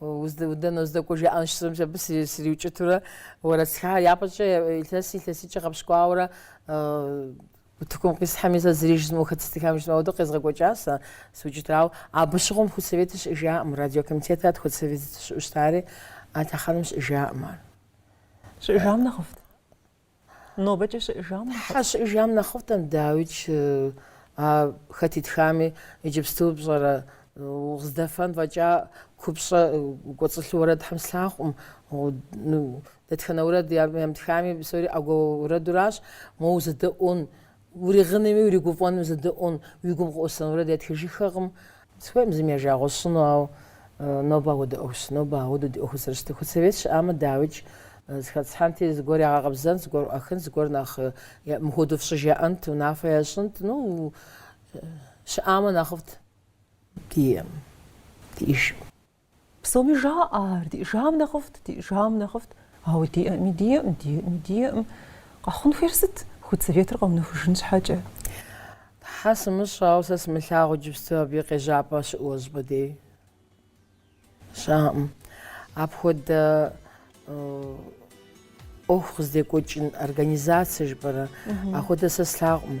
Уэ дэнэ уздэкӏуэ жаӏэн щысщӏэм щэ абы сриукӏытурэ уэрэд стхахэр япэкӏэ илъэс илъэситӏкӏэ гъэпщкӏуауэрэ утыкум къисхьэми сэ зыри жызмыӏэу хэт зытхам жызмыӏэу ауэдэу къезгъэкӏуэкӏа сэ сыукӏытырт. Ауэ абы щыгъуэм худсоветыр щыӏэжаӏым, радиокомитетат худсоветыр щыӏэу щытари а лъэхъэнэм щыӏэжаӏым ар. Щыӏэжам нэхъыфӏт. Нобэкӏэ щыӏэжам нэхъыфӏт. Тхьэ щыӏэжам нэхъыфӏтэм, дауикӏ, а хэт итхами, иджыпсту пщӏэрэ, уздэфэн фӏэкӏа купщӏэ кӏуэцӏылъу уэрэд Тхьэм слъагъукъым. Дэтхэнэ уэрэд ямытхами, псори ӏэгуэ уэрэдуращ, моуэ узэдэӏуэн. Уригъынуми уригуфӏэнуми узэдэӏуэн, уи гум къыӏусэн уэрэд ятхыжыххэкъым. Сыхуейкъым зыми я жагъуэ сщӏыну, ауэ нобэ ауэдэ ӏуэхущ. Нобэ ауэдэу ди ӏуэхур зэрыщытыр. Худсовет щыӏамэ, дауикӏ, зэхэтӏысхьэнти, зыгуэр ягъэкъэбзэнт, зыгуэр ӏуахынт, зыгуэр нэхъ мыхуэдэу фщӏы жаӏэнт, унафэ ящӏынт. Ну, щыӏамэ нэхъыфӏт. Диӏам, диӏэжам. Псоми жаӏэ ар, диӏэжам нэхъыфӏт, диӏэжам нэхъыфӏт. Ауэ диӏэӏыми, диӏэӏым, диӏэӏыми, диӏэӏым. Къэхъун хуейр сыт худсоветыр къэунэхужын щхьэкӏэ? Тхьэ сымыщӏэ, ауэ сэ сымылъагъу иджыпсту абы и къежьапӏэ щыӏэу щӏыпӏэ дей. Щыӏэкъым. Апхуэдэ ӏуэху къыздекӏуэкӏын организацэ жыпӏэрэ? Апхуэдэ сэ слъагъукъым.